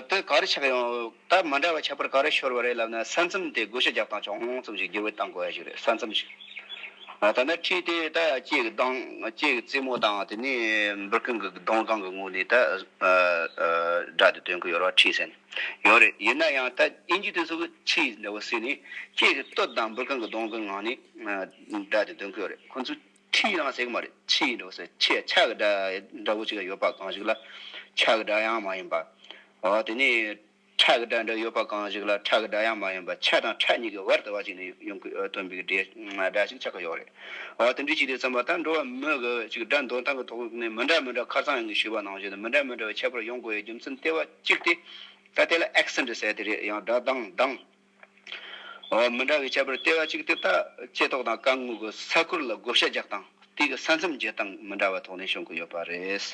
དེ་ག་རེ་ཆགས་ཡོང། ད་མ་འདྲ་བ་ཆགས་པར་ག་རེ་ཤོར་བ་རེད་ལབ་ན་ས་མཚམས་དེ་བགོ་བཤའ་རྒྱག་སྟངས་ཅུང་ཙམ་ཞིག་བསྒྱུར་བས་བཏང་དགོས་ཡ་ཞིག་རེད་ས་མཚམས་ཞིག་ད་ནི་ཁྲིད་དེ་ད་ཅེ་གི་གདང་ཅེ་གི་རྩེ་མོ་དང་དེ་ནས་འབུར་ཁང་གི་གདོང་སྒང་གི་ངོས་ནས་ད་སྒྲ་དེ་སྟོན་གི་ཡོད་ར་ཁྲིད་ཟེར་ནས་ཡོད་རེད་ཡིན་ན་ཡང་ད་ཨིན་ཇི་དེ་ཚོ་གི་ཁྲིད་འདྲ་བོ་ཟེར་ནས་ཅེ་གི་སྟོད་དང་འབུར་ཁང་གི་གདོང་གི་ངང་ནས་སྒྲ་དེ་སྟོན་གི་ཡོད་རེད་ཁོང་ཚོས། ཁྲིད་ཡང་ཟེགས་མར་ཕྱི་ཡི་འགྲོ་སའི་ཆེད་ཆ་ག་འདྲ་བོ་ཅིག་ལ་ཡོད་པ་གང་ཞིག་ལ་ཆ་ག་འདྲ་ཡང་མ་ཡིན་པ། དེ་ནས་ཁྲ་ག་འདྲ་འདྲ་ཡོད་པ་གང་ཞིག་ལ་ཁྲ་ག་འདྲ་ཡང་མ་ཡིན་པ་ཆ་དང་ཁྲ་གཉིས་ཀྱི་བར་དུ་བ་ཅིག་ནས་ཡོང་གི་སྟོན་པའི་སྒྲ་ཞིག་ཆགས་ཀྱི་ཡོད་རེད། དེ་འདྲའི་ཆེད་དུ་བརྩམས་པ་དང་འགྲོ་བ་མི་ག་བས་ཅིག་སྒྲ་འདོན་སྟངས་ཀྱི་ཐོག་ནས་མི་འདྲ་མི་འདྲ་ཁ་ཚང་ཡོང་གི་ཞེས་པ་ནང་བཞིན་དུ་མི་འདྲ་མི་འདྲ་བའི་ཁྱད་པར་ཡོང་དགོས་ཡའི་རྒྱུ་མཚན་ལྟེ་བ་གཅིག་སྟེ། ད་དེ་ལ accent ཟེར་ཏེ་རེད་ཡང་སྒྲ་གདངས་གདངས། མི་འདྲ་བའི་ཁྱད་པར་ལྟེ་བ་གཅིག་སྟེ་ལྟགཅེས་ཐོག་དང་རྐང་ངོས་ཀྱི་ས་ཁུར་ལ་བགོ་བཤའ་རྒྱག་སྟངས་དེ་གི་ས་མཚམས་བརྒྱད་སྟངས་མི་འདྲ་བ་དོགས་ནས་བྱུང་གི་ཡོད་པ་རེད།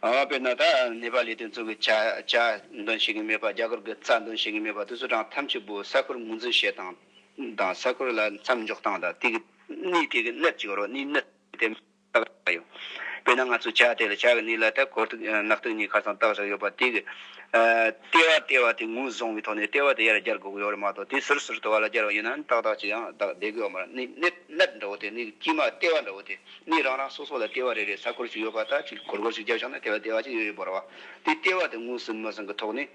དཔེར་ན་ད་ནེ་པ་ལི་དེ་ཚོ་གི་བྱ་འདོན་བྱེད་ཀྱི་མེད་པ་རྒྱ་གར་གྱི་རྩྭ་འདོན་བྱེད་ཀྱི་མེད་པ་དེ་ཚོ་དང་ཐམས་ཅད་པོ་ས་ཁུར་ངོས་འཛིན་བྱེད་སྟངས་དང་ས་ཁུར་ལ་མཚམས་འཇོག་སྟངས་དང་དེ་གི་གནས་དེ་གི་གནད་ཅིག་རོ་གནས་གནད་དེ། བཏགས་བཞག་ཡོད། དཔེར་ན་ང་ཚོས་བྱ་དེ་ལ་བྱ་གི་ནི་ལ་དྭགས་གོར་ཐིག་ནག་ཐིག་གཉིས་ཁ་ཚང་བཏགས་བཞག་ཡོད་པ་དེ་གི། ལྟེ་བ་ལྟེ་བ་དེ་ངོས་བཟུང་བའི་ཐོག་ནས་ལྟེ་བ་དེ་ཡར་བསྐྱར་དགོས་ཀྱི་ཡོད་རེད་མ་གཏོགས་དེ་ཟུར་ཟུར་དུ་བ་ལ་བསྐྱར་བ་ཡིན་ནའང་ཏག་ཏག་ཅིག་ཡང་བདག་བསྡད་དགོས་ཡོད་མ་རེད་གནས་གནས་འདྲ་བོ་དེ་གནས་དཀྱིལ་མ་ལྟེ་བ་འདྲ་བོ་དེ་གནས་རང་རང་སོ་སོ་ལ་ལྟེ་བ་རེ་རེ་ས་སྐོར་ཅིག་ཡོད་པ་ལྟར་ཅིག་གོར་གོར་ཅིག་བརྒྱབ་བཞག་ན་དེ་ལ་ལྟེ་བ་ཅིག་ཡོད་ཡོད་འབོར་བ་དེ་ལྟེ་བ་དེ་ངོས་ཟིན་མི་ཟིན་གི་ཐོག་ནས།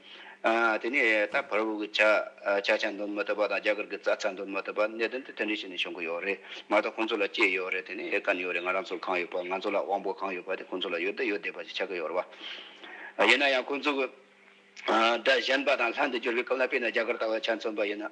དེ་ནས་ད་བར་བོད་ཀྱི་བྱ་བྱ་འདོན་མི་ཐུབ་པ་དང་རྒྱ་གར་གྱི་རྩྭ་རྩྭ་འདོན་མི་ཐུབ་པ་གནད་དོན་དེ་དོན་འགྲེལ་བྱས་ནས་བྱུང་གི་ཡོད་རེད་མ་གཏོགས་ཁོང་ཚོ་ལ་སྐྱེས་ཡོད་རེད་དེ་ནས་དཀའ་ཡོད་རེད་ང་རང་ཚོར་གང་ཡོད་པ་ང་ཚོ་ལ་དབང་པོ་གང་ཡོད་པ་དེ་ཁོང་ཚོ་ལ་ཡོད་བསྡད་ཡོད་བསྡད་པ་ཞིག་ཆགས་ཀྱི་ཡོད་རེད་ཡིན་ན་ཡང་ཁོང་ཚོ་གི་སྒྲ་གཞན་པ་དང་ལྷན་དུ་བསྒྱུར་བའི་སྐབས་ལ་དཔེར་ན་རྒྱ་གར་ལྟ་བུ་ཆ་མཚོན་པ་ཡིན་ན།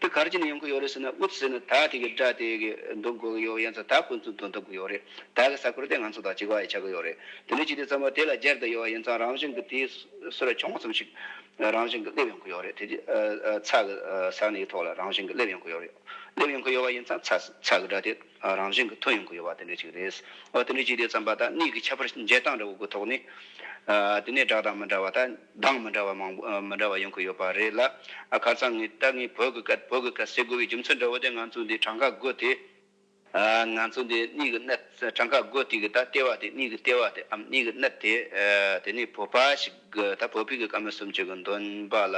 དེ་གར་གྱི་ནས་ཡོང་གི་ཡོད་རེད་ཟེར་ན་ཨུད་ཟེར་ནས་ད་དེ་གི་སྒྲ་དེ་གི་འདོན་དགོས་གི་ཡོད་ཡིན་ཚ་ད་ཁོ་ཚོས་འདོན་ཐུབ་གི་ཡོད་རེད་ད་གི་ས་ཁུལ་དེ་ང་ཚོ་དང་གཅིག་པ་ཡི་ཆགས་གི་ཡོད་རེད་དེ་ནས་ཅི་དེ་ཙམ་པ་དེ་ལ་སྦྱར་དུ་ཡོད་ཡིན་ཙང་རང་བཞིན་གི་དེ་སུ་ར་ཆུང་ངུ་ཙམ་ཞིག་རང་བཞིན་གི་སླེབས་ཡོང་གི་ཡོད་རེད་དེ་དེ་ཚ་གི་ས་ནས་ཡི་ཐོག་ལ་རང་བཞིན་གི་སླེབས་ཡོང་གི་ཡོད་རེད་སླེབས་ཡོང་གི་ཡོད་ཡིན་ཙང་ཚ་ཚ་གི་སྒྲ་དེ་རང་བཞིན་གི་ཐོན་ཡོང་གི་ཡོད་པ་དེ་འདྲ་ཞིག་རེད་ཨོ་དེ་འདྲ་ཅི་དེ་ཙམ་པ་ད་གནས་གི་ཁྱད་པར་འཇལ་སྟངས་འདྲ་བོ་གི་ཐོག་ནས་དེ་ནས་སྒྲ་གདངས་མི་འདྲ་བ་ད། གདངས་མི་འདྲ་བ་མང་པོ་མི་འདྲ་བ་ཡོང་གི་ཡོད་པ་རེད་ལ། ཁ་སང་ངས་ཏཱ་ངེ་བོད་ཀྱི་སྐད་བོད་ཀྱི་སྐད་བཤད་དགོས་པའི་རྒྱུ་མཚན་འདྲ་བོ་དེ་ང་ཚོས་འདི་གྲངས་ཀ་བགོད་དེ། ང་ཚོས་འདི་གཉིས་ཀྱི་གནད་གྲངས་ཀ་བགོད་དེ་གི་ད་ལྟེ་བ་དེ་གཉིས་ཀྱི་ལྟེ་བ་དེ་འམ་གཉིས་ཀྱི་གནད་དེ། དེ་ནས་བོད་པ་ཞིག་གི་ད་བོད་པའི་གི་ཀ་མེད་གསུམ་བཅུ་གི་འདོན་པ་ལ་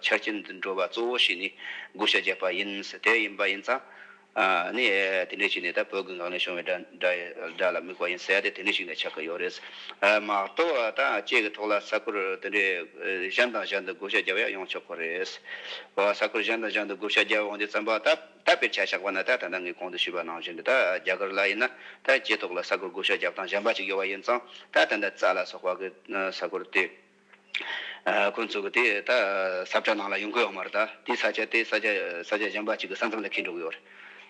ཆ་རྐྱེན་འདི་འགྲོ་བ་གཙོ་བོ་ཞིག་ནི་བགོ་བཤའ་བརྒྱབ་པ་ཡིན་ཟེར་དེ་ཡིན་པ་ཡིན་ཙང། ནི། དེ་འདྲས་ཞིག་ནི་ད་བོད་ཀྱི་ངག་ནས་ཤོང་བའི་སྒྲ་ལ་དམིགས་པ་ཡིན་ཟེར་ཏེ་དེ་འདྲས་ཞིག་ནས་ཆགས་ཀྱི་ཡོད་རེད། མ་གཏོགས་ད་ཁྱེད་ཀྱི་ཐོག་ལ་ས་ཁུལ་དེ་འདྲས་གཞན་དང་གཞན་དུ་བགོ་བཤའ་རྒྱབ་ཡ་ཡོང་ཆོག་གི་རེད། ས་ཁུལ་གཞན་དང་གཞན་དུ་བགོ་བཤའ་རྒྱབ་ཡོང་རྒྱུ་བརྩམས་པ་ད་ད་བེད་སྤྱད་ཆགས་པ་ན་ད་ད་ལྟ་ངས་གོང་དུ་ཞུས་པ་ནང་བཞིན་དུ་ད་རྒྱ་གར་ལ་ཡིན་ན་ད་ཁྱེད་ཐོག་ལ་ས་ཁུལ་བགོ་བཤའ་རྒྱབ་སྟངས་གཞན་པ་ཅིག་ཡོད་པ་ཡིན་ཙང་ད་ད་ད་ཙཱ་ལ་སོགས་པ་གི་ས་ཁུལ་དེ། ཁོ་ཚོ་གིས་དེ་ད་ས་བཀྲ་ནང་ལ་ཡོང་གི་ཡོད་མ་རེད་དཱ། དེའི་ས་ཆ་དེ་ས་ཆ་ས་ཆ་གཞན་པ་གཅིག་གི་ས་མཚམས་ལ་འཁེལ་འགྲོ་གི་ཡོད་རེད།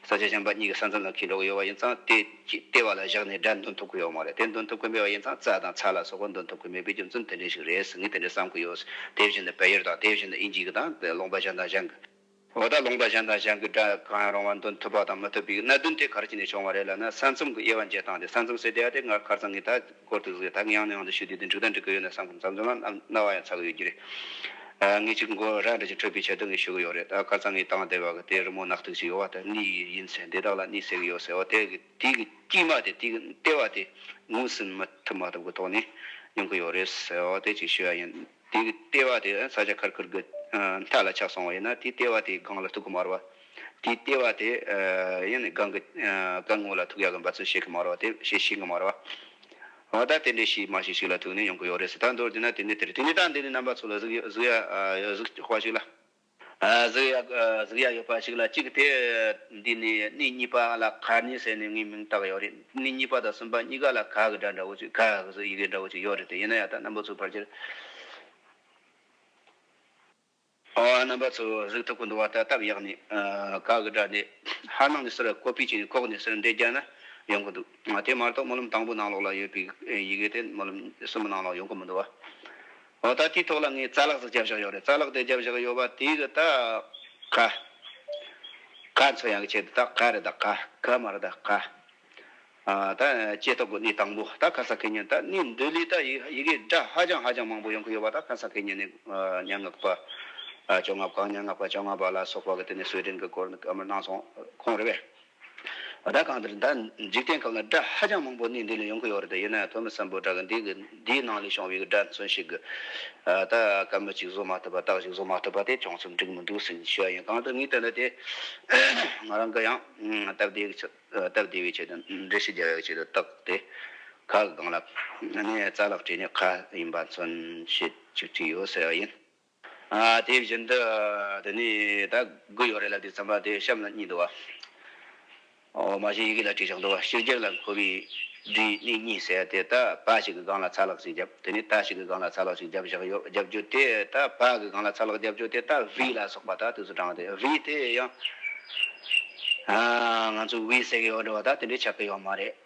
ས་ཆ་གཞན་པ་གཉིས་ཀྱི་ས་མཚམས་ལ་འཁེལ་འགྲོ་གི་ཡོད་པ་ཡིན་ཙང་དེ་ལྟེ་བ་ལ་བཞག་ནས་སྒྲ་འདོན་ཐུབ་ཀྱི་ཡོད་མ་རེད་དེ་འདོན་ཐུབ་ཀྱི་མེད་པ་ཡིན་ཙང་རྩྭ་དང་ཚྭ་ལ་སོགས་པ་འདོན་ཐུབ་ཀྱི་མེད་པའི་རྒྱུ་མཚན་དེ་འདྲ་ཞིག་རེད་ངས་དེ་འདྲ་བསམ་གྱི་ཡོད། དེ་བཞིན་དུ་བལ་ཡུལ་དང་དེ་བཞིན་དུ་དབྱིན་ཇི་གི་དང་ལོང་པ་གཞན་དང་གཞན་གྱི། ལོ་ཟླ་ལོངས་པ་གཞན་དང་གཞན་གྱི་སྒྲ་གང་ཡང་རུང་བ་འདོན་ཐུབ་པ་དང་མི་ཐུབ་པའི་གནད་དོན་དེ་གར་ཅི་ནས་བྱུང་བ་རེད་ལབ་ན་ས་མཚམས་ཀྱི་དབྱེ་བ་འབྱེད་སྟངས་དེ་ས་མཚམས་ཟེར་བསྡད་ཡ་དེ་སྔར་ཁར་ཚང་གིས་ད་སྐོར་དུ་གཟིགས་ད་གིན་ཡང་ནས་ཡང་དུ་ཞུ་དུས་དེ་འགྲིག་དང་འགྲིག་གི་ཡོད་ན་ས་མཚམས་ལ་རྣ་བ་ཡང་ཚ་གི་ཡོད་ཀྱི་རེད། ངས་ཅིག་མགོ་ར་འདྲ་ཅིག་ཁྲོས་པའི་ཆེད་དུ་ངས་ཞུ་གི་ཡོད་རེད་ད་སྐར་ཚང་གིས་དང་དེ་བ་གི་དེ་རི་མོ་ནག་ཐིག་ཅིག་ཡོད་བ་དེ་གཉིས་ཡིན་ཡིན་ཟེར་འདི་དག་ལ་གཉིས་ཟེར་གི་ཡོད་ཟེར་བ་དེ་གི་དེ་གི་དཀྱིས་མ་དེ་དེ་གི་ལྟེ་བ་དེ་ངོས་ཟིན་མ་ཐུབ་མ་ཐུབ་ཀྱི་ཐོག་ནས་ཡོང་གི་ཡོད་རེད་ཟེར་བ་དེ་ཅིག་ཞུ་ཡ་ཡིན། དེའི་ལྟེ་བ་དེ་ས་ཆ་ཁར་ཁུར་གྱི་མཐའ་ལ་ཆགས་སོང་བ་ཡིན་ན་དེའི་ལྟེ་བ་དེའི་སྒང་ལ་ཐུག་གི་མ་རུ་བ། དེའི་ལྟེ་བ་དེ་ཡང་ནི་སྒང་གི་སྐར་ངོ་ལ་ཐུག་ཡག་གི་འབའ་ཚུལ་བཤད་གི་མ་རུ་བ་དེ་བཤད་ཤེས་གི་མ་རུ་བ། འོ་ད་དེ་འདྲའི་ཤིག་མ་ཤེས་ཤིག་ལ་ཐུག་ནས་ཡོང་གི་ཡོད་རེད་ཟེར་ད་མདོར་བསྡུས་ན་དེ་འདྲའི་དེ་རེད་དེ་ནི་ད་འདི་ནི་རྣམ་པ་ཚོ་ལ་གཟིགས་གཟིགས་ཡ་གཟིགས་དཔའ་ཞིག་ལ། གཟུགས་ཡ་ཡོད་པ་ཞིག་ལ་གཅིག་དེ་འདི་ནི་སྣེ་གཉིས་པ་ལ་ག་ནི་ཟེར་ནས་ངས་མིང་བཏགས་ཡོད་རེད་སྣེ་གཉིས་པ་དང་གསུམ་པ་གཉིས་ཀ་ལ་ག་གི་སྒྲ་འདྲ་བོ་ཅིག་ག་གཟུགས་ཡི་གེ་འདྲ་བོ་ཅིག་ཡོད་རེད་དེ་ཡིན་ན་ཡང་དག་རྣམ་པ་ཚོའི་བར་གྱི་རྣམ་པ་ཚོའི་གཟུགས་ཐུག་གི་འདུག་བ་ལྟར་སྟབས་ཡག་ནས་ག་གི་སྒྲ་འདི་ཧ་ནང་ནས་སུར་ཀོ་པི་བྱས་ནས་ཁོག་ནས་སུར་འདྲེས་རྒྱག་ན་ཡོང་གི་འདུག་དེ་མ་གཏོགས་སྨོན་ལམ་དང་པོ་ནང་ལོགས་ལ་ཡོད་པའི་ཡི་གེ་དེ་སྨོན་ལམ་གསུམ་པོ་ནང་ལོགས་ཡོང་གི་མི་འདུག་བ། འོ་ད་དེའི་ཐོག་ལ་ངས་རྩ་ལག་ཟིག་བརྒྱབ་བཞག་ཡོད་རེད་རྩ་ལག་དེ་བརྒྱབ་བཞག་ཡོད་པ་དེ་གི་ད་ག། ག་འཚོལ་ཡང་གི་ཆེད་དུ་ད་ག་རེད་ད་ག་ག་མ་རེད་ད་ག། ད་ཇེ་ཐོག་གི་གནས་དང་པོ་ད་ག་ས་གི་ཉིན་ད་གནས་འདི་ལས་ད་ཡི་གེ་སྒྲ་ཧ་ཅང་ཧ་ཅང་མང་པོ་ཡོང་གི་ཡོད་པ་ད་ག་ས་གི་ཉིན་ནས་སྙན་ངག་པ་བཅོ་ལྔ་པ་གང་སྙན་ངག་པ་བཅོ་ལྔ་པ་ལ་སོགས་པ་གི་དེ་ནས་གསོལ་འདྲེན་གི་སྐོར་གང་མང་གནང་སོང་ཁོང་རེད་པས། སྒྲ་གང་དེར་འདྲ་འཇིག་རྟེན་ཁམས་ལ་སྒྲ་ཧ་ཅང་མང་པོ་གནས་འདི་ལ་ཡོང་གི་ཡོད་རེད་དེ་ཡིན་ན་ཡང་དོན་མི་ཟབ་པོ་སྒྲ་གི་འདི་གི་འདིའི་ནང་ལས་བྱུང་བའི་སྒྲ་མཚོན་ཞིག་གི་ད་ག་མི་གཅིག་བཟོ་མ་ཐུབ་པ་རྟགས་ཞིག་བཟོ་མ་ཐུབ་པ་དེ་ཅུང་ཙམ་འགྲིག་མི་འདུག་ཟིན་ཞུ་བ་ཡིན་གང་ལྟར་ངའི་བསྟན་དོན་དེ་ང་རང་གི་ཡང་སྟབས་བདེ་བའི་སྟབས་བདེ་བའི་ཆེད་དུ་འགྲེལ་བཤད་རྒྱག་ཡག་ཆེད་དུ་བཏགས་ཏེ་ཁ་གི་སྒང་ལ་ནས་རྩ་ལག་བྲིས་ནས་ཁ་ཡིན་པ་མཚོན་བྱེད་ཅིག་བྲིས་ཡོད་ཟེར་བ་ཡིན། དེ་བཞིན་དུ་དེ་ནས་ད་གུ་ཡོད་རེད་ལབ་དེ་ཚང་མ་དེ་གཤམ་ལ་གཉིས་འདུག་བ། མ་གཞི་ཡི་གེ་ལ་བྲིས་ཆོག་འདུག་བ་ཕྱི་རྒྱལ་ལ་འཁོར་བའི་བྲིས་གནས་གཉིས་ཟེར་དེ་ད་ཕ་ཞིག་གི་སྒང་ལ་ཚ་ལག་ཞིག་བརྒྱབ་དེ་ནས་ད་ཞིག་གི་སྒང་ལ་ཚ་ལག་ཞིག་བརྒྱབ་བཞག་ཡོད་བརྒྱབ་རྒྱུ་དེ་ད་ཕ་གི་སྒང་ལ་ཚ་ལག་བརྒྱབ་རྒྱུ་དེ་ད་བྷི་ལ་སོགས་པ་ད་དུས་སུ་དྲངས་དེ་བྷི་དེ་ཡང་ང་ཚོས་དབྱི་ཟེར་གི་ཡོད་འགྲོ་བ་ད་དེ་འདྲའི་ཆགས་ཀྱི་ཡོད་མ་རེད།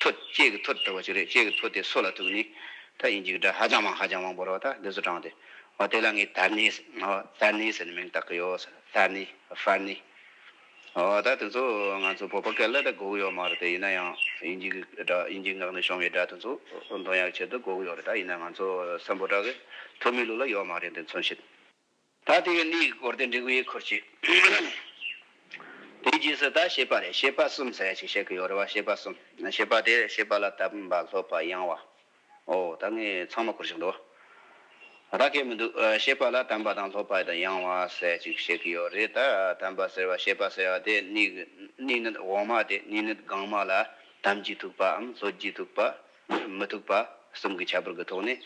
ཐོ། ལྕེ་གི་ཐོ་དེ་བ་ཅིག་རེད་ལྕེ་གི་ཐོ་དེ་སོ་ལ་ཐུག་ནི། ད་ཡིན་ཅིག་འདྲ་ཧ་ཅང་མང་ཧ་ཅང་མང་པོ་རོ་ད་འདི་ཚོ་དྲངས་ཏེ། ཨོ་དེ་ལ་ངས་དར་སྣེ་དར་སྣེ་ཟེར་ནས་མིང་བཏགས་ཀྱི་ཡོད་ཟེར་དར་སྣེ་ཧྥར་སྣེ། ཨོ་ད་དེ་ཚོ་ང་ཚོ་བོད་པ་སྐད་ལ་ད་གོ་གི་ཡོད་མ་རེད་དེ་ཡིན་ན་ཡང་ཡིན་ཅིག་འདྲ་ཡིན་ཅིག་ངག་ནས་བྱུང་བའི་སྒྲ་དེ་ཚོ་འདོན་ཡག་ཆེད་དུ་གོ་གི་ཡོད་རེད་ད་ཡིན་ན་ང་ཚོ་སམ་བོད་དག་གི་ཐུ་མི་ལུགས་ལ་ཡོད་མ་རེད་དེ་མཚོན་བྱེད། ད་དེ་བས་ལུས་ཀྱི་སྐོར་དེ་འབྲི་གུ་ཡིས་ཁུར་ཅིག། དེའི་རྗེས་སུ་ད་ཤེས་པ་རེ་ཤེས་པ་གསུམ་ཟེར་བ་ཅིག་བཤད་གི་ཡོད་རེད་བ་ཤེས་པ་གསུམ་ཤེས་པ་དེ་ཤེས་པ་ལ་ལྟ་བུ་འབའ་ལྷོད་པ་ཡང་བ། ཨོ་ད་ངས་ཚང་མ་ཁུར་ཅིག་འདུག་ད་སྐད་མི་འདུག་ཤེས་པ་ལ་དམ་པ་དང་ལྷོད་པ་དང་ཡང་བ་ཟེར་ཅིག་བཤད་གི་ཡོད་རེད་ད་དམ་པ་ཟེར་བ་ཤེས་པ་ཟེར་བ་དེ་སྣིག་སྣིག་ནི་འོག་མ་དེ་སྣིག་ནི་སྒང་མ་ལ་དམ་གྱིས་ཐུག་པའམ་ལྷོད་ཀྱིས་ཐུག་པ། མི་ཐུབ་པ་གསུམ་གྱི་ཁྱད་པར་གྱི་ཐོག་ནས་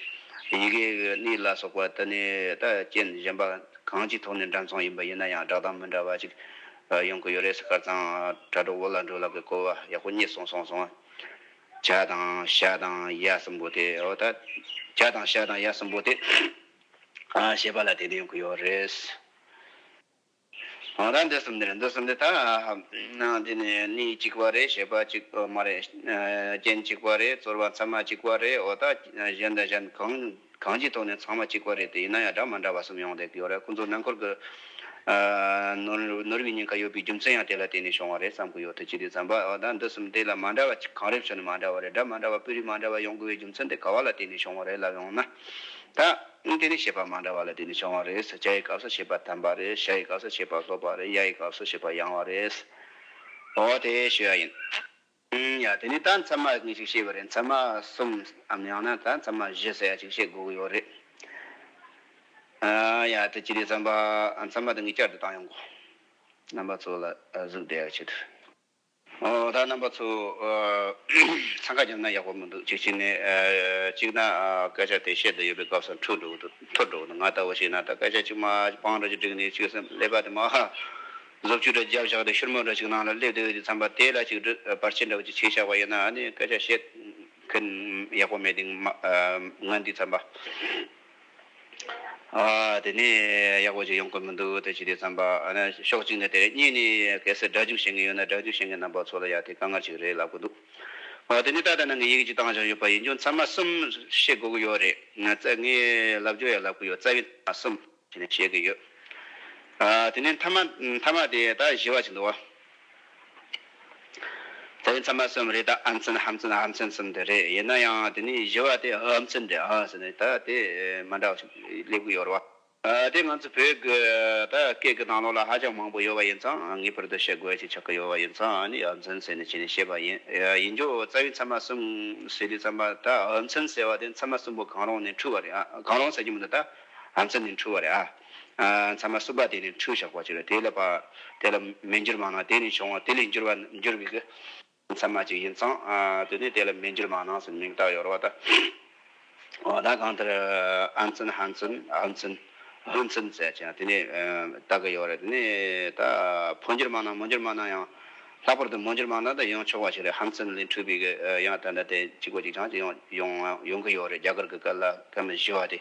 ཡི་གེ་གཉིས་ལ་སོགས་པ་དུ་ནས་ད་རྐྱེན་གཞན་པ་གང་ཅིའི་ཐོག་ནས་འདྲ་མཚུངས་ཡིན་པ་ཡིན་ན་ཡང་སྒྲ་གདངས་མི་འདྲ་བ་ཅིག་ཡོང་གི་ཡོད་རེད་སྐར་ཚང་དྲ་གྲོགས་བོ་ལ་འགྲོ་ལ་གི་གོ་བ་ཡག་པོ་རྙེད་སོང་སོང་སོང། བྱ་དང་ཤ་དང་ཡ་གསུམ་པོ་དེ་འོ་ད་བྱ་དང་ཤ་དང་ཡ་གསུམ་པོ་དེ་ཞེས་པ་ལ་དེ་འདྲ་ཡོང་གི་ཡོད་རེད། ང་རང་འདི་གསུམ་འདི་རེད་འདི་གསུམ་འདི་ད་འདི་ནི་གནས་གཅིག་པ་རེད་ཞེས་པ་གཅིག་མ་རེད། རྐྱེན་གཅིག་པ་རེད་ཚོར་བ་ཚང་མ་གཅིག་པ་རེད་འོ་ད་གཞན་དང་གཞན་གང་གང་ཅིའི་ཐོག་ནས་ཚང་མ་གཅིག་པ་རེད་དེ་ཡིན་ན་ཡང་འདྲ་མ་འདྲ་བ་གསུམ་ཡོང་བསྡད་ཀྱི་ཡོད་རེད་ཁོང་ཚོ་ནང་འཁོར་གྱི་ནོར་བུའི་ཉེན་ཁ་ཡོད་པའི་རྒྱུ་མཚན་ཡང་དེ་ལ་བརྟེན་ནས་བྱུང་བ་རེད་བསམ་གྱི་ཡོད་དེ་ཅི་སྟེ་བསམ་པ་འོ་ད་འདི་གསུམ་དེ་ལ་མ་འདྲ་བ་གང་རེད་ཞུ་ནི་མ་འདྲ་བ་རེད་འདྲ་མ་འདྲ་བ་སྤུས་རིས་མ་འདྲ་བ་ཡོང་དགོས་པའི་རྒྱུ་མཚན་དེ་ག་བ་ལ་བརྟེན་ནས་བྱུང་བ་རེད་ལབ་ཡོང་ན་ད། ཨང་དེ་ནས་ཞེས་པ་མ་འདྲ་བ་ལ་དེ་ནས་བྱུང་བ་རེད། བྱ་ཡི་སྐབས་སུ་ཞེས་པ་དམ་པ་རེད། ཤ་ཡི་སྐབས་སུ་ཞེས་པ་ལྷོད་པ་རེད། ཡ་ཡི་སྐབས་སུ་ཞེས་པ་ཡང་བ་རེད། འོ་དེ་ཞུ་ཡ་ཡིན། ཡ་དེ་ནས་ད་མཚན་མ་ངས་ཅིག་བཤད་པ་རེད་མཚན་མ་གསུམ་འམ་ཡང་ན་ད་མཚན་མ་བཞི་ཟེར་ཡ་ཅིག་བཤད་དགོས་ཀྱི་ཡོད་རེད། ཡ་དེ་ཅི་རེད་བསམ་པ་མཚན་མ་དེ་ངས་བསྐྱར་དུ་བཏང་ཡོང་གོ། རྣམ་པ་ཚོ་ལ་གཟུགས་འདས་ཡག་བྱེད་དུ། ཨོ་ད་རྣམ་པ་ཚོ། འཚང་ཁ་རྒྱབ་ན་ཡག་པོ་མི་འདུག་གཅིག་བྱས་ནས། གཅིག་ན་སྐད་ཆ་དེ་བཤད་དུ་ཡོད་པའི་སྐབས་སམ་འཁྲུག་འགྲོ་འཐོར་འགྲོ་ང་ལྟ་བུ་ཞིག་ན་ད་སྐད་ཆ་གཅིག་མ་སྤང་འགྲོ་ཅིག་བསྒྲིགས་ནས་ཅིག་སེམས་ཀླད་པ་དེ་མ་གཟུགས་བཅུ་དྲུག་རྒྱབ་བཞག་སྟེ་ཤུར་མོ་འདྲ་ཅིག་ནང་ལ་སླེབས་དུས་ཀྱི་འཚམས་པ་དེ་ལ་ཅིག་བར་ཆད་འདྲ་བོ་ཅིག་བྱས་ཆགས་པ་ཡིན་ན་ནི་སྐད་ཆ་བཤད་མཁན་ཡག་པོ་མེད་དེ་ང་འདི་འཚམས་པ། དེ་ནས་ཡག་པོ་ཞིག་ཡོང་གི་མི་འདུག་དེ་ཅི་སྟེ་བསམ་པ། ཕྱོགས་གཅིག་ནས་དེ་རིང་གཉིས་ནས་གལ་སྲིད་སྒྲ་འཇུག་བྱེད་མཁན་ཡོད་ན་སྒྲ་འཇུག་བྱེད་མཁན་རྣམ་པ་ཚོ་ལ་ཡང་དེ་དཀའ་ངལ་ཞིག་རེད་ལབ་གི་འདུག་དེ་ནས་ཏག་ཏག་ནང་གི་ཡིག་གཅིག་བཏང་བཞག་ཡོད་པ་ཡིན་རྒྱུ་མཚན་མ་གསུམ་བཤད་དགོས་ཀྱི་ཡོད་རེད། ངས་ལབ་རྒྱུ་ཡང་ལབ་གི་ཡོད་རྩ་བའི་མཐའ་མ་གསུམ་ཞེས་ནས་བཤད་ཀྱི་ཡོད། དེ་ནས་མཐའ་མ་དེ་ད་བཞི་བ་ཞིག་འདུག། དེ་ཚང་མ་གསུམ་རེད་ད་ཨ་མཚན་ཧ་མཚན་ཨ་མཚན་གསུམ་དེ་རེད་ཡིན་ན་ཡང་དེ་ནས་བཞི་བ་དེ་ཧ་མཚན་རེད་ཨ་ཟེར་ནས་ད་དེ་མ་འདྲ་བ་ཞིག་སླེབས་གི་ཡོད་རེད་བ། དེ་ང་ཚོ་བོད་གི་ད་སྐད་གི་གནང་ལུགས་ལ་ཧ་ཅང་མང་པོ་ཡོད་པ་ཡིན་ཙང་ངེས་པར་དུ་ཤེས་དགོས་ཞིག་ཆགས་གི་ཡོད་པ་ཡིན་ཙང་ཨ་ནི་ཨ་མཚན་ཟེར་ནས་བྱས་ནས་ཤེས་པ་ཡིན་ཡིན་རྒྱུ་རྩ་བའི་ཚང་མ་གསུམ་ཟེར་དུས་ཚང་མ་ད་ཨ་མཚན་ཟེར་བ་དེ་ཚང་མ་གསུམ་པོ་གང་རུང་ནས་འཁྲུལ་བ་རེད་ཨ་གང་རུང་ཟེར་གྱི་མི་འདུག་ད་ཨ་མཚན་ནས་འཁྲུལ་བ་རེད་ཨ། ཚང་མ་བསྲུབས་པ་དེ་ནི་འཁྲུལ་བཞག་པར་གྱུར་དེ་ལ་དེ་ལ་མི་འགྱུར་མ་ནང་དེ་ནི་བྱུང་བ་དེ་ལས་འགྱུར་བ་འགྱུར་བའི་ཚད་མ་ཅིག་ཡིན་ཙང་དུ་ནི་དེ་ལ་མི་འགྱུར་མ་ནང་སེམས་མིག་དག་ཡོར་བ་དང། བ་དག་གང་ལྟར་ཨ་མཚོན་ཧ་མཚོན་ཧུ་མཚོན་ཧུན་མཚོན་ཟེར་ཅིང་དེ་ནི་དག་གི་ཡོར་རེད་དེ་ནི་ད་ཕོ་འགྱུར་མ་ནང་མོ་འགྱུར་མ་ནང་ཡང་ལྷག་པར་དུ་མོ་འགྱུར་མ་ནང་དུ་ཡང་ཆོག་པ་ཞིག་རེད་ཧ་མཚོན་ལས་འཁྲུལ་བའི་ཡང་ད་ལྟ་དེ་གཅིག་པོ་གཅིག་ཆང་ཅིག་ཡང་ཡོང་གི་ཡོར་རེད་རྒྱ་གར་གི་སྐད་ལ་སྐད་མི་གཞི་བ་དེ།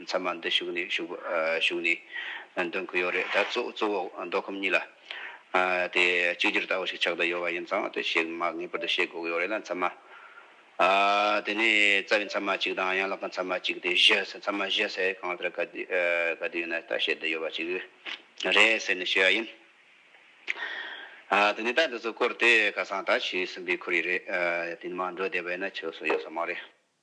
མཚམས་མ་འདི་བཞུགས་ནས་བཞུགས་ནས་འདོན་གི་ཡོད་རེད་ད། གཙོ་བོ་མདོ་ཁམས་གཉིས་ལ་དེ་གཅིག་གྱུར་ལྟ་བུ་ཞིག་ཆགས་བསྡད་ཡོད་པ་ཡིན་ཙང་དེ་བཤད་མ་ངེས་པར་དུ་བཤད་དགོས་ཀྱི་ཡོད་རེད་ལ་མཚམས་མ་དེ་ནས་རྩ་བའི་མཚམས་མ་གཅིག་དང་ཡན་ལག་གི་མཚམས་མ་གཅིག་དེ་བཞི་མཚམས་མ་བཞི་ཟེར་གང་ལྟར་ག་དུས་ཡིན་ན་ད་བཤད་བསྡད་ཡོད་པ་ཅིག་རེད་ཟེར་ནས་ཤེས་པ་ཡིན། དེ་ནས་ད་འདི་ཚོ་བསྐོར་དེ་ཁ་སང་ད་ཕྱི་གསུམ་པའི་ཁོར་ཡུག་རེད་དེ་ནས་མ་འགྲོ་བསྡད་པ་ཡིན་ན་ཆོས་སུ་ཡོད་ས་མ་རེད།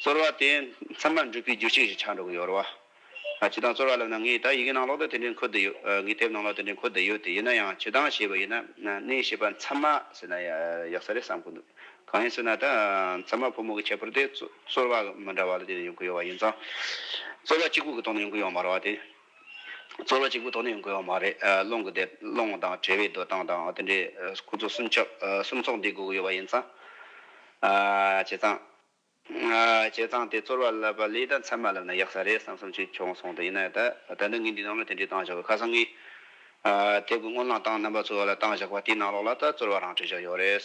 ཚོར་བ་དེ་མཚན་མར་འགྲུབ་པའི་རྒྱུ་ཅི་ཞིག་ཆགས་འགྲོ་གི་ཡོད་རེད་བ། བྱེད་སྟངས་ཚོར་བ་ལབ་ན་ངས་ད་ཡི་གེ་ནང་ལོག་ལྟ་དེ་འདྲས་འཁོད་བསྡད་ཡོད། ངས་དེབ་ནང་ལོག་དེ་འདྲས་འཁོད་བསྡད་ཡོད་དེ་ཡིན་ན་ཡང་བྱེད་སྟངས་ཞེས་པ་ཡིན་ན་གནས་ཞེས་པ་མཚན་མ་ཟེར་ན་ཡག་ས་རེད་བསམ་གི་འདུག་གང་ཡིན་ཟེར་ན་ད་མཚན་མ་ཕོ་མོ་གི་ཁྱད་པར་དེ་ཚོར་བ་མི་འདྲ་བ་ལ་བརྟེན་ནས་ཡོང་གི་ཡོད་བ་ཡིན་ཙང། ཚོར་བ་གཅིག་པུ་གི་ཐོག་ནས་ཡོང་གི་ཡོད་མ་རེད་བ་དེ། ཚོར་བ་གཅིག་པུ་ཐོག་ནས་ཡོང་དགོས་པ་མ་རེད། སློང་གི་དེབ་སློང་བ་དང་བྲལ་བའི་སྡོད་སྟངས་དང་དེ་འདྲའི་ཁོ་ཚོ་གསུམ་ཆོག་གསུམ་ཚོགས་འདུས་སྒུག་གི་ཡོད་པ་ཡིན་ཙང། བྱས་ཙང། བྱས་ཙང་དེ་ཚོར་བ་བསླབ་པ་ལས་ད་མཚན་མ་བསླབ་ན་ཡག་ས་རེད་བསམ་བསམ་ཅིག་བྱུང་སོང་དུས་ཡིན་ནའི་ད་ལྟ་ངས་འདི་རྣམས་ལ་དེ་འདྲའི་གཏང་བཞག་གི་ཁ་སང་གི། དེབ་ཀྱི་སྔོན་བསླངས་སྟངས་རྣམ་པ་ཚོར་བ་ལ་གཏང་བཞག་པ་དེའི་ནང་ལོགས་ལ་ད་ཚོར་བ་རང་བྲིས་བཞག་ཡོད་རེད།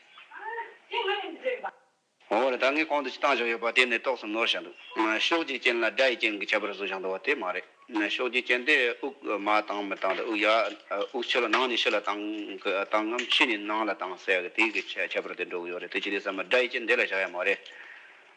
ངོ་བོ་ལ་ད་ངའི་གོང་དུ་ཅི་བཏང་བཞག་ཡོད་པ་དེ་ནི་རྟོགས་སམ་ནོར་བཞག་འདུག་ཕྱོགས་བརྒྱའི་རྐྱེན་ལ་སྒྲ་ཡི་རྐྱེན་གྱི་ཁྱད་པར་བཟོ་བཞག་འདུག་བ་དེ་མ་རེད། ཕྱོགས་བརྒྱའི་རྐྱེན་དེ་དབུགས་མ་བཏང་མི་བཏང་དང་དབུགས་ཡར་དབུགས་ཕྱི་ལ་ནང་ནས་ཕྱི་ལ་བཏང་ངམ་ཕྱི་ནས་ནང་ལ་བཏང་ཟེར་ཡག་གི་དེའི་ཁྱད་པར་དེ་འགྲོ་གི་ཡོད་རེད་དེ་ཅི་སྟེ་ཟེར་མ་སྒྲ་ཡི་རྐྱེན་དེ་ལ་བཞག་ཡག་མ་རེད།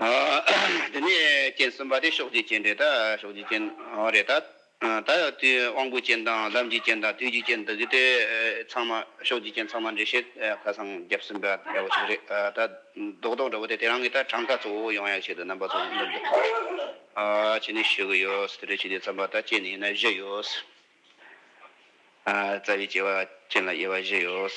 དེ་ནས་སྤྱན་གསུམ་པ་དེ་ཕྱོགས་བཅུའི་སྤྱན་རེ་དང། ད་ཡང་དུས་དབང་པོའི་སྤྱན་དང་ལམ་གྱི་སྤྱན་དང་དུས་ཀྱི་སྤྱན་འདི་གཉིས་དེ་ཚང་མ་ཕྱོགས་བཅུའི་སྤྱན་ཚང་མ་འདྲེས་ཤིང་ཁ་བསང་རྒྱབ་གསུམ་པ་འདྲ་བོ་ཞིག་རེད། ད་རྡོག་རྡོག་འདྲ་བོ་དེ་དེ་རང་གི་ད་གྲངས་ཀ་གཙོ་བོ་ཡང་ཡང་བྱས་འདུག་རྣམ་པ་ཚོ་འདི་འདུག་ཕྱི་ནས་ཞུ་གི་ཡོད། དེ་འདྲའི་ཆུ་དེ་ཚང་མ་ད་སྤྱན་ཡིན་ན་བཞི་ཡོད། རྩ་བའི་སྐྱེ་བ་ཅན་ལ་དབྱེ་བ་བཞི་ཡོད།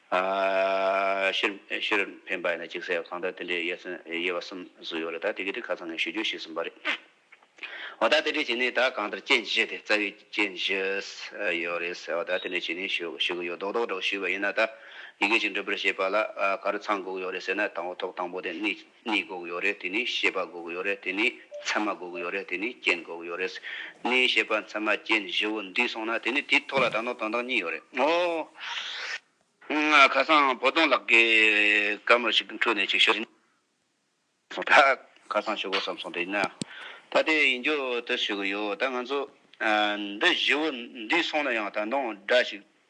ཤེར་ཕན་པ་ཡིན་ན་གཅིག་བསད་གང་དག་དེ་འདྲའི་ཡས་ཚོན་ཡས་བ་གསུམ་སུ་ཡོད་རེད་ད་དེ་གི་དེ་ཁ་ཚང་ངས་ཞུ་རྒྱུ་ཞིག་གསུངས་པ་རེད་འོ་ད་དེ་འདྲའི་བྱས་ནས་ད་གང་ལྟར་རྐྱེན་བཞི་དེ་རྩ་བའི་རྐྱེན་བཞི་ཡོད་རེད་ཟེར་བ་ད་དེ་འདྲའི་བྱས་ནས་ཞུ་གི་ཡོད་རྡོག་རྡོག་འདྲ་བོ་ཞུས་པ་ཡིན་ན་ད་ཡི་གེ་གཅིག་འབྲི་པར་བྱས་པ་ལ་ག་རེ་ཚང་དགོས་ཀྱི་ཡོད་རེད་ཟེར་ན་དང་བོ་ཐོག་དང་པོ་དེ་གནས་ནི་དགོག་ཡོད་རེད་དེ་ནི་ཤེས་པ་དགོག་ཡོད་རེད་དེ་ནི་མཚན་མ་དགོག་ཡོད་རེད་དེ་ནི་རྐྱེན་དགོག་ཡོད་རེད། ནི་ཤེས་པ་མཚན་མ་རྐྱེན་བཞི་བོ་འདུས་སོང་ན་དེ་ནི་དེའི་ཐོག་ལ་ད་ནོར་དང་དང་གཉིས་ཡོད་རེད་ངོ། ཁ་སང་བོ་དོང་ལགས་ཀྱིས་སྐར་མ་ཞིག་གི་འཁྲུལ་ནས་ཅིག་ཤོས་ཡིན་སོང་ད་ཁ་སང་ཞུ་དགོས་བསམ་སོང་དེ་ཡིན་ན་ད་དེ་ཡིན་རྒྱུ་དེ་ཞུ་གི་ཡོད་ད་ང་ཚོ་འདི་བཞི་བོ་འདུས་སོང་ན་ཡང་ད་དོང་འདྲ་ཞིག་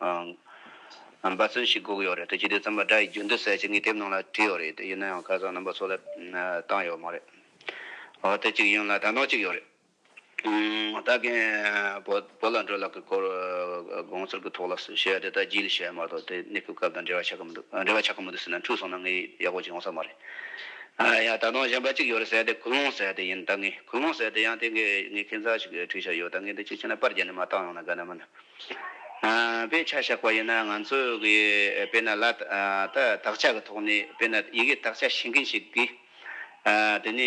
རྣམ་པ་ཚོན་ཞིག་བསྒུགས་ཡོད་རེད་དེ་སྤྱི་བདེ་ཙམ་པ་སྒྲ་ཡི་རྒྱུན་དུ་གསལ་བྱེད་ངའི་དེབ་ནང་ལ་བྲིས་ཡོད་རེད་དེ་ཡིན་ན་ཡང་ཁ་སང་རྣམ་པ་ཚོ་ལ་བཏང་ཡོད་མ་རེད་འོ་དེ་གཅིག་ཡིན་ལ་དང་ཐོག་གཅིག་ཡོད་རེད་ད་གིན་བོད་ལ་འགྲོ་ལ་གི་སྐོར་དགོངས་ཚུལ་གི་ཐོག་ལ་སུ་བཤད་དེ་ད་རྒྱུས་ལ་བཤད་མ་གཏོགས་དེ་གནས་སྤོས་སྐབས་དང་འབྲེལ་བ་ཆགས་ཀི་མི་འདུག་འབྲེལ་བ་ཆགས་ཀི་མི་འདུག་ཟེར་ན་འཁྲུགས་སོང་ན་ངའི་ཡག་པོ་ཅིག་ཡོང་ས་མ་རེད་ཡ་ད་དུང་གཞན་པ་གཅིག་ཡོད་རེད་ཟེར་དེ་ཁུ་ལུང་ཟེར་དེ་ཡིན་ད་གིན་ཁུ་ལུང་ཟེར་དེ་ཡང་དེ་གིན་ངའི་མཁན་ཚ་ཞིག་གི་འཁྲིད་བྱ་ཡོད་ད་གིན་དེ་གཅིག་བྱས་ན་པར་བརྒྱད་ནས་མ་བཏང་ཡོང་ན་དགའ་ན་མིན། དཔེ་ཆ་བཞག་པ་ཡིན་ན་ང་ཚོས་གི་དཔེ་ན་ལ་ད་དག་ཆ་གི་ཐོག་ནས་དཔེ་ན་ཡི་གེ་དག་ཆ་ཤེས་མཁན་ཞིག་གིས་དེ་ནས་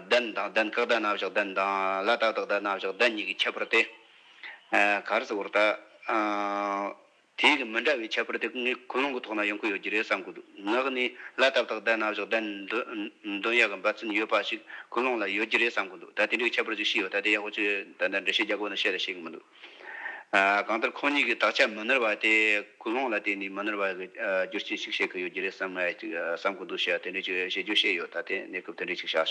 བདུན་དང་བདུན་ཀག་དག་ན་བཞག་བདུན་དང་ལ་དག་དག་དག་ན་བཞག་བདུན་གཉིས་ཀྱི་ཁྱད་པར་དེ་ག་རེ་ཟེར་བར་ད་དེ་ཡིས་མི་འདྲ་བའི་ཁྱད་པར་དེ་ངའི་ཁུ་ལུང་གི་ཐོག་ན་ཡོང་གི་ཡོད་ཀྱི་རེད་བསམ་གི་འདུག་ངག་ནས་ལ་དག་དག་བསྡད་ན་བཞག་བསྡད་ན་འདོན་ཡག་གི་འབའ་ཚུན་ཡོད་པ་ཞིག་ཁུ་ལུང་ལ་ཡོད་ཀྱི་རེད་བསམ་གི་འདུག་ད་དེ་འདྲའི་ཁྱད་པར་ཅིག་ཤི་ཡོད་ད་དེ་ཡག་པོ་ཆོས་ད་ལྟ་འགྲེལ་བཤད་རྒྱག་དགོས་ན་བཤད་རེ་ཤེས་ཀྱི་མི་འདུག་གང་ལྟར་ཁོང་གཉིས་ཀྱི་དག་ཆ་མི་ནོར་བ་དེ་ཁུ་ལུང་ལ་བརྟེན་ནས་མི་ནོར་བ་གི་རྒྱུ་རྐྱེན་ཞིག་བཤད་ཀྱི་ཡོད་ཀྱི་རེད་བསམ་གི་འདུག་ཤེས་ཡ་དེ་འདྲའི་ཆོས་བཤད་རྒྱུ་ཤེས་ཡོད་ད་དེ་གནས་སྐབས་དེ་འདྲའི་ཞིག་བྱ།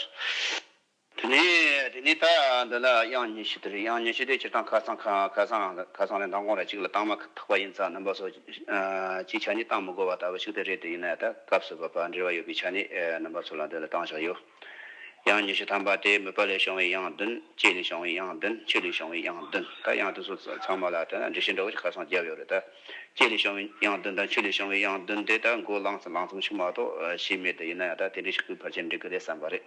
དེ་ནས་དེ་ནས་ད་འདི་ལ་དབྱངས་ཉི་ཤུ་དེར་དབྱངས་ཉི་ཤུ་དེ་སྤྱིར་བཏང་ཁ་སང་ཁ་ཁ་སང་ཁ་སང་ལས་མདང་དགོང་ར་གཅིག་ལ་བཏང་མ་ཐག་པ་ཡིན་ཙང་རྣམ་པ་སོགས་ཅི་ཆ་ནས་བཏང་མི་དགོས་པ་ལྟ་བུ་ཞིག་དེ་རེད་དེ་ཡིན་ན་ད་སྐབས་སུ་བབ་པ་འབྲེལ་བ་ཡོད་པའི་ཆ་ནས་རྣམ་པ་སོགས་ལ་འདི་ལ་བཏང་བཞག་ཡོད། དབྱངས་ཉི་ཤུ་ཐམ་པ་དེ་མུད་པ་ལས་བྱུང་བའི་དབྱངས་བདུན་སྐྱེས་ལས་བྱུང་བའི་དབྱངས་བདུན་ཆོས་ལས་བྱུང་བའི་དབྱངས་བདུན་ད་དབྱངས་བདུན་སོགས་ཚང་མ་ལ་ལྟོས་ན་འགྲེལ་བཤད་འདྲ་བོ་ཞིག་ཁ་སང་བརྒྱབ་ཡོད་རེད་ད། སྐྱེས་ལས་བྱུང་བའི་དབྱངས་བདུན་དང་ཆོས་ལས་བྱུང་བའི་དབྱངས་བདུན་དེ་ད་མགོ་བསླངས་ཙམ་ཞིག་མ་གཏོགས་ཤེས་མེད་དེ་ཡིན་ན་ད་དེ་འདྲ་ཞིག་གི་བར་ཆད་འབྲི་གི་རེད་བསམ་པ་རེད།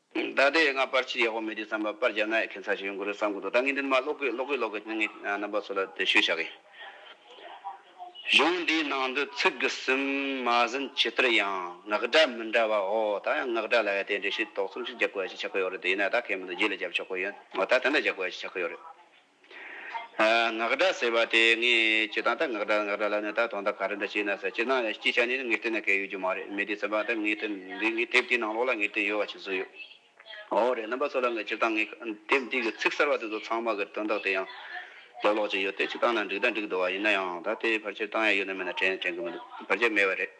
ད་ལྟའི་ཡ་ང་པར་ཕྱིར་ཡག་པོ་མེད་དུས་བསམ་པ་པར་རྒྱབ་ན་ཡ་ཁན་ཚ་ཞིག་ཡོང་གི་རེད་བསམ་གི་འདུག་ད་ངས་འདི་ནས་མ་ཀློག་གི་ཀློག་གི་ཀློག་གི་ནང་གི་རྣམ་པ་ཚོ་ལ་དེ་ཤོད་བྱ་གི། གཞུང་འདིའི་ནང་དུ་ཚིག་གི་གསུམ་མ་ཟིན་ཇི་ལྟར་ཡང་ངག་སྒྲ་མི་འདྲ་བ་འོ་ད་ཡང་ངག་སྒྲ་ལ་ཡང་དེ་འདྲའི་ཤེས་རྟོགས་ཚུལ་ཞིག་རྒྱག་དགོས་ཡ་ཞིག་ཆགས་ཀི་ཡོད་རེད་དེ་ཡིན་ན་ད་གལ་མི་འདུག་རྗེས་ལ་རྒྱབ་ཆོག་གི་ཡིན་འོ་ད་དེ་འདྲ་རྒྱག་དགོས་ཡ་ཞིག་ཆགས་ཀི་ཡོད་རེད། ངག་སྒྲ་ཟེར་བ་དེ་ངས་ཅི་ཐང་ད་ངག་སྒྲ་ངག་སྒྲ་ལབ་ནས་ད་ཐོག་མཐའ་ག་རེ་འདྲ་བྱས་ན་ཟེར་ཅི་སྣང་ཡང་སྐྱིད་ཆ་ནས་ངེས་གཏན་ནས་གས་ཡོད་རྒྱུ་མ་རེད་མི་དེས་ཟེར་བ་ད་ངས་དེབ་འདི་ངས་དེབ་དེའི་ནང་ལོགས་ལ་ངེས་གཏན་ཡོད་བ་ཞིག་བཟོས་ཡོད། འོ་རེད་རྣམ་པ་ཚོ་ལ་ངས་སྤྱིར་བཏང་ངས་དེབ་འདི་གི་ཚིག་གསར་བ་དེ་ཚོ་ཚང་མ་གི་དོན་དག་དེ་ཡང་ལོགས་ལོགས་ཅིག་ཡོད་དེ་སྤྱིར་བཏང་ན་འགྲིག་ད་འགྲིག་འདུག་བ་ཡིན་ན་ཡང་ད་དེ་ཕར་ཆེར་བཏང་ཡ་ཡོད་ན་མེད་ན་དྲན་དྲན་གི་མི་འདུག་ཕར་ཆེར་མེད་བ་རེད།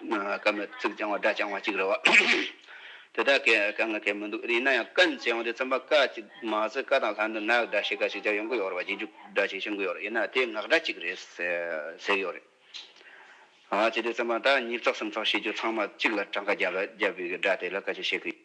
སྐབས་མེད་ཚིག་རྐྱང་བ་སྒྲ་རྐྱང་བ་གཅིག་རེད་བ། དེ་དག་གི་དཀའ་ངལ་ཁེལ་མི་འདུག་ཡིན་ན་ཡང་སྐད་མཇལ་ཡོང་དུས་རྩོམ་པ་ཀ་ཅིག་མ་ཟེར་ཀ་དང་ལྷ་འདི་ནག་སྒྲ་ཞིག་ཀ་ཞིག་བརྒྱབ་ཡོང་གི་ཡོད་རེད་བ་རྗེས་འཇུག་སྒྲ་ཞིག་བྱུང་གི་ཡོད་རེད་ཡིན་ན་དེ་ངག་སྒྲ་གཅིག་རེད་ཟེར་གི་ཡོད་རེད། བྱས་དུས་རྩོམ་པ་དག་གཉིས་ཚོགས་སམ་ཚོགས་ཤེས་རྒྱུ་ཚང་མ་གཅིག་ལ་གྲངས་ཀ་བརྒྱབ་ལ་རྒྱབ་ཡོད་ཀྱི་སྒྲ་དེ་ལ་ཀ་ཅིག་བཤད་ཀི་ཡོད།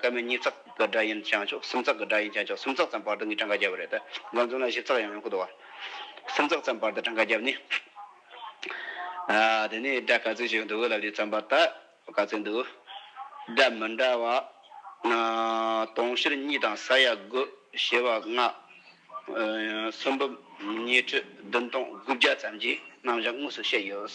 སྐར་མའི་གཉིས་ཙག་གི་སྒྲ་ཡིན་ཀྱང་ཆོག་གསུམ་ཙག་གི་སྒྲ་ཡིན་ཀྱང་ཆོག་གསུམ་ཙག་ཙམ་བར་དུ་ངས་གྲངས་ཀ་བརྒྱབ་པ་རེད། འགོ་འཛུམ་ལ་བཞི་ཙག་ཡང་ཡོང་གི་འདུག་བ། གསུམ་ཙག་ཙམ་བར་དུ་གྲངས་ཀ་བརྒྱབ་ནས། དེ་ནས་སྒྲ་ག་ཚོད་ཞིག་འདུག་ལབ་ཀྱིས་བརྩམས་པ་ལྟར་ག་ཚོད་འདུག། སྒྲ་མི་འདྲ་བ། དུང་ཕྱུར་གཉིས་དང་ས་ཡ་དགུ། བྱེ་བ་ལྔ། སུམ་འབུམ། ཉི་ཁྲི་བདུན་སྟོང་དགུ་བརྒྱ་ཙམ་གྱི་རྣམ་གཞག་དངོས་སུ་བཤད་ཡོད།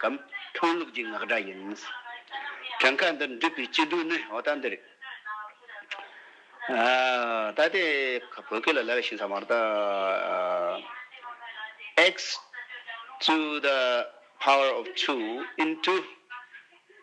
གམ། ཁྲོམ་ལུགས་ཀྱི་ངག་སྒྲ་ཡིན། བྲང་ཁ་འདིར་འདུས་པའི་སྐྱིད་སྡུག་ནི་འོ་ད་འདི་རེད། ད་ལྟའི་བོད་སྐད་ལ་ལ་ལ་ཞིག་ཚང་མར་དང། X to the power of two into།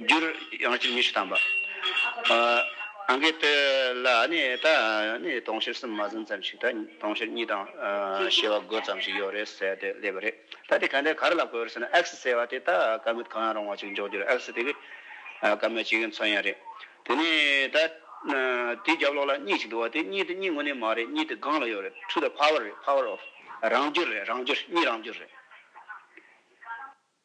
རྒྱུར་ཡང་གཅིག་ཉི་ཤུ་དང་པ། གང་གི་དོད་ལ་ནི་ད་ནི་དུང་ཕྱུར་གསུམ་མ་ཟིན་ཙམ་ཞིག་ད་དུང་ཕྱུར་གཉིས་དང་བཞི་བ་དགུ་ཙམ་ཞིག་ཡོད་རེད་ཟེར་ཏེ་སླེབས་པ་རེད། ད་དེ་ག་འདྲའི་གར་ལ་གོ་ཡོད་ཟེར་ན X ཟེར་བ་དེ་ད་དཀའ་མོད་གང་ཡང་རུང་བ་ཅིག་འཇོག་རྒྱུར X དེ་གི་དཀའ་མོད་ཅིག་མཚོན་ཡ་རེད། དེ་ནི་ད་དེའི་རྒྱབ་ལོགས་ལ་གཉིས་ཅིག་འདུག་བ་དེ་གཉིས་དེ་གཉིས་ངོ་ནས་མ་རེད་གཉིས་དེ་སྒང་ལ་ཡོད་རེད Truth Power རེད Power of རང་རྒྱུར་རེད་རང་རྒྱུར་གཉིས་རང་རྒྱུར་རེད།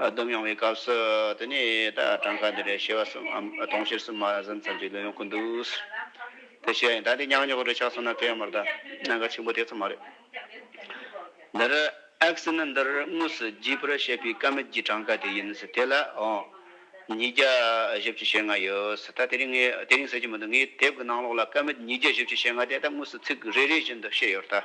བསྡོམས་ཡོང་བའི་སྐབས་སུ་དེ་ནས་ད་གྲངས་ཀ་འདི་རེད་ཤེས་པ་གསུམ་འམ་སྟོང་ཕྱིར་གསུམ་མ་ཟིན་ཙམ་གྱི་ལོས་ཡོང་གི་འདུག་དེ་ཤེས་ཡིན་ད་འདི་ཉག་ཉོག་རེ་ཆགས་སོང་ན་དེ་ཡང་མ་རེད་ད་གནད་འགག་ཆེན་པོ་དེ་ཚོ་མ་རེད། འདིར་ཨེག་སི་ནི་འདིར་དངོས་སུ་རྒྱས་པར་བཤད་པའི་ཀ་མད་ཀྱི་གྲངས་ཀ་དེ་ཡིན་དེ་ལ་འོང། ཉིས་བརྒྱ་བཞི་བཅུ་ཞེ་ལྔ་ཡོད་ད་དེ་རིང་ངས་དེ་རིང་ཟེར་གྱི་མི་འདུག་ངའི་དེབ་ཀྱི་ནང་ལོགས་ལ་ཀ་མད་ཉིས་བརྒྱ་བཞི་བཅུ་ཞེ་ལྔ་དེ་ད་དངོས་སུ་ཚིག་རེ་རེ་བཞིན་དུ་བཤད་ཡོད་ད།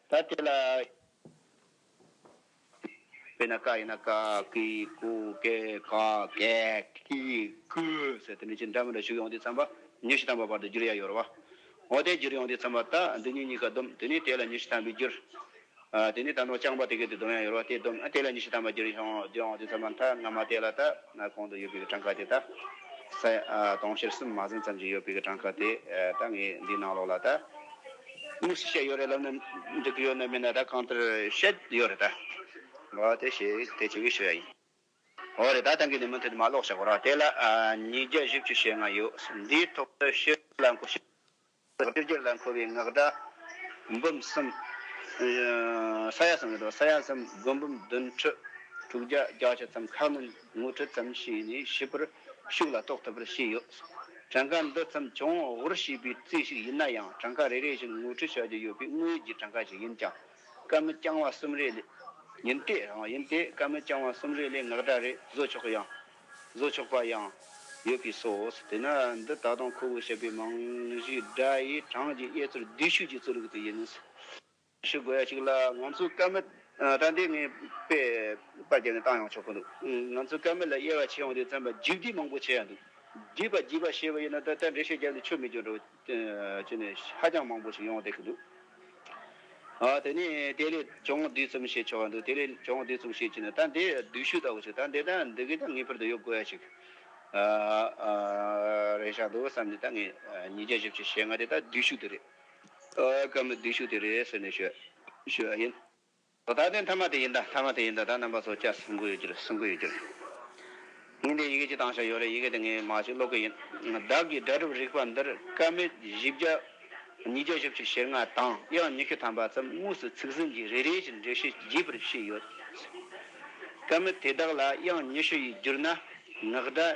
ད་དེ་ལ། དཔེར་ན་ཀ་ཡིན་ན་ཀ་ཀི་ཀུ་ཀེ་ཀ་ཀེ་ཀི་ཀུ་ཟེར་དེ་ནི་ཅི་འདྲ་མི་འདྲ་ཞུགས་ཡོང་དུས་ཚངས་པ་ཉི་ཤུ་ཐམ་པ་བར་དུ་འགྱུར་ཡ་ཡོད་རོ། འོ་དེ་འགྱུར་ཡོང་དུས་ཚངས་པ་ད་འདི་ཉིད་གཉིས་ཀ་སྡོམ་དེ་ནི་དེ་ལ་ཉི་ཤུ་ཐམ་པའི་འགྱུར། དེ་ནི་ད་ནོར་རྐྱང་པ་དེ་གའི་དུས་སྡོམ་ཡ་ཡོད་རོ་དེ་སྡོམ་དེ་ལ་ཉི་ཤུ་ཐམ་པ་འགྱུར་ཡོང་འགྱུར་ཡོང་དུས་ཚངས་པ་མཐའ་སྔ་མ་དེ་ལ་ད་གོང་དུ་ཡོད་པའི་གྲངས་ཀ་དེ་ད་ས་ཡ་སྟོང་ཞེར་གསུམ་མ་ཟིན་ཙམ་གྱི་ཡོད་པའི་གྲངས་ཀ་དེ་ད་ངས་འདིའི་ནང་ལོགས་ལ་ད། དངོས་སུ་བཤད་ཡོད་རེད་ལབ་ན་འགྲིག་གི་ཡོད་ནི་མིན་ན་ད་གང་ལྟར་བཤད་ཡོད་རེད་ད། འོ་དེ་ཞེས་དེ་བྱེད་ཀྱི་ཞུ་ཡ་ཡིན། འོ་རེད་ད་ད་གི་ནི་མུ་མཐུད་དུ་མ་ཀློག་བྱ་གོ་རོགས་དེ་ལ་ཉིས་བརྒྱ་བཞི་བཅུ་ཞེ་ལྔ་ཡོད་འདིའི་ཐོག་ཏུ་ཤི་ལ་འཁོ་ཤི་ལ་ཤི་རྒྱུ་ལ་འཁོ་བའི་ངག་སྒྲ། འབུམ་གསུམ། ས་ཡ་གསུམ་རེད་དོ་ས་ཡ་གསུམ་དགུ་འབུམ་བདུན་ཁྲི་དྲུག་བརྒྱ་བརྒྱ་བྱེད་ཙམ་ཁག་ནི་ངོ་ཁྲི་ཙམ་ཞིག་ནི་ཤི་བར་ཤུགས་ལ་རྟོགས་ཐུབ་པར་བྱས་ཡོད། གྲངས་ཀ་འདི་ཙམ་བྱུང་འོང་ཞེས་པའི་རྩིས་ཤིག་ཡིན་ན་ཡང་གྲངས་ཀ་རེ་རེ་བཞིན་ངོ་སྤྲོད་བྱ་རྒྱུ་ཡོད་པའི་དངོས་ཡོད་ཀྱི་གྲངས་ཀ་ཞིག་ཡིན་ཀྱང་སྐར་མི་རྐྱང་བ་གསུམ་རེ་ལས། ཡིན་ཏེ་རང་ཡིན་ཏེ་སྐར་མི་རྐྱང་བ་གསུམ་རེ་ལས་ངག་སྒྲ་རེ་བཟོ་ཆོག་ཡང། བཟོ་ཆོག་པ་ཡང། ཡོད་པས་སོ། དེས་ན་འདི་ད་དུང་ཁོ་བོས་བཤད་པའི་རྨང་གཞིའི་སྒྲ་ཡི་གྲངས་ཀྱི་དབྱེ་ཚུལ་བསྡུས་ཤུགས་ཀྱི་རྩོལ་རིག་དེ་ཡིན། ཞུ་དགོས་ཡ་ཞིག་ལ་ང་ཚོའི་སྐལ་མེད་དྲ་འདི་ངས་པས་པར་བརྒྱབ་ནས་བཏང་ཡོང་ཆོག་གི་འདུག་ང་ཚོའི་སྐལ་མེད་ལ་དབྱེ་བ་ཕྱེ་འོང་དུས་བཙན་པ་རྒྱུགས་རྒྱུགས་མང་པོ་བྱེད་ཡ་འདུག་རྒྱུས་པ་རྒྱུས་པ་ཞེས་པ་ཡིན་ན་ད་ལྟ་འགྲེལ་བཤད་བརྒྱབ་ནས་ཆོ་མི་གྱོན་འགྲོ་ཅི་ནས་ཧ་ཅང་མང་པོ་ཞིག་ཡོང་བསྡད་ཀྱི་འདུག་དེ་ནས་དེ་ལས་ཅུང་དུས་གསུམ་བཤད་ཆོག་གི་འདུག་དེ་ལས་ཅུང་དུས་གསུམ་བཤད་ཅི་ནས་ད་འདི་བསྡུས་ཤུལ་ལྟ་བུ་ཞིག་ད་འདི་ད་འདི་གས་ཀྱང་ངེས་པར་དུ་ཡོད་དགོས་ཡ་ཞིག་རེད་ཤག་འདུག་བསམ་ནས་ད་ངས་ཉིས་བརྒྱ་བཞི་བཅུ་ཞེ་ལྔ་དེ་ད་བསྡུས་ཤུལ་དེ་རེད། སྐབས་ནི་བསྡུས་ཤུགས་དེ་རེད་ཟེར་ནས་ཞུ་བ་ཡིན། ད་ལྟའི་མཐའ་མ་དེ་ཡིན་ད་མཐའ་མ་དེ་ཡིན་ད་ད་རྣམ་པ་ཚོ་སྐྱར་གསུང་གི་ཡོད་རྒྱུ་རེད་གསུང་གི་ཡོད་རྒྱུ་རེད། ཉིན་དེའི་ཡི་གེ་གཅིག་བཏང་ཞོར་ཡོད་རེད་ཡི་གེ་དེ་ངས་མ་གཅིག་ཀློག་གི་ཡིན། བདག་གིས་སྒྲ་སྒྲུབ་རིག་པ་འདིར་སྐད་མེད་བཞི་བརྒྱ། ཉིས་བརྒྱ་བཞི་བཅུ་ཞེ་ལྔ་དང་དབྱངས་ཉི་ཤུ་ཐམ་པ་ཙམ་དངོས་སུ་ཚིག་ཟིན་གྱིས་རེ་རེ་བཞིན་འགྲེལ་བཤད་བགྱིས་པར་ཤེས་ཡོད། སྐད་མེད་དེ་དག་ལ་དབྱངས་ཉི་ཤུ་ཡིས་བསྒྱུར་ན་ངག་སྒྲ་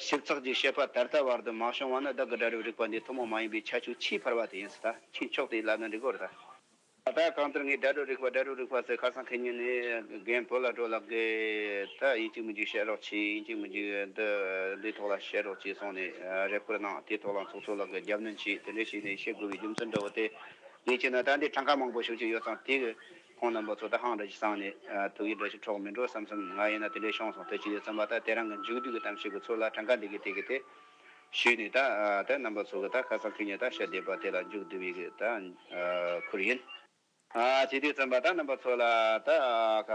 ཞིབ་ཚགས་ཀྱིས་བཤད་པ་ད་ལྟ་བར་དུ་མ་བྱུང་བ་ནི་བདག་གི་སྒྲ་རིག་རིག་པ་འདི་ཐུན་མོང་མ་ཡིན་པའི་ཁྱད་ཆོས་ཆེས་འཕར་བ་དེ་ཡིན་ཟེར་ད་ཁྱེད་མཆོག་དེའི་ལབ་ན་འགྲིག་གོ་རེ་ད། ད་ལྟ་གང་ལྟར་ངས་སྒྲ་རིག་རིག་པ་སྒྲ་རིག་རིག་པ་ཟེར་ཁ་སང་ཁེ་ཉིན་ནས་རྒན་བོད་ལ་འགྲོ་ལགས་གིས་ད་ཡིན་གཅིག་མི་འཇིག་བཤད་རོགས་གྱིས་ཡིན་གཅིག་མི་འཇིག་འདི་འདིའི་ཐོག་ལ་བཤད་རོགས་གྱིས་གསུངས་ནས་རེ་སྐུལ་གནང་དེའི་ཐོག་ལ་མཚུངས་མཚུངས་ལགས་གིས་རྒྱབ་གནོན་གྱིས་དེ་འདྲས་བྱས་ནས་བཤད་དགོས་པའི་རྒྱུ་མཚན་འདྲ་བོ་དེ་ངས་བྱས་ན་ད་འདིར་གྲངས་ཀ་མང་པོ་ཞུ་རྒྱུ་ཡོད་ཙང་དེའི་ཁོང་རྣམ་པ་ཚོ་ད་ཧང་འདྲ་ཞིག་བསྲངས་ནས་དུག་གི་སྒྲ་ཞིག་འཕྲོག་མི་འགྲོ་བསམ་བསམ་ང་ཡིན་ན་དེ་འདྲའི་ཤོང་སོང་ཐོས་ཀྱི་འདུག་བསམ་པ་ད་དེ་རང་གི་མཇུག་བསྡུས་ཀྱི་གཏམ་ཞིག་གི་ཚུར་ལ་གྲངས་ཀ་འདི་གི་དེ་གི་དེ་ཞུས་ནས་ད་ད་རྣམ་པ་ཚོ་གི་ད་ཁ་སང་ཕུལ་ནས་ད་ཤ་བསྡད་པ་དེ་ལ་མཇུག་བསྡུ་བའི་གི་ད་ཁུར་ཡིན། བྱས་དུས་བསམ་པ་ད་རྣམ་པ་ཚོ་ལ་ད།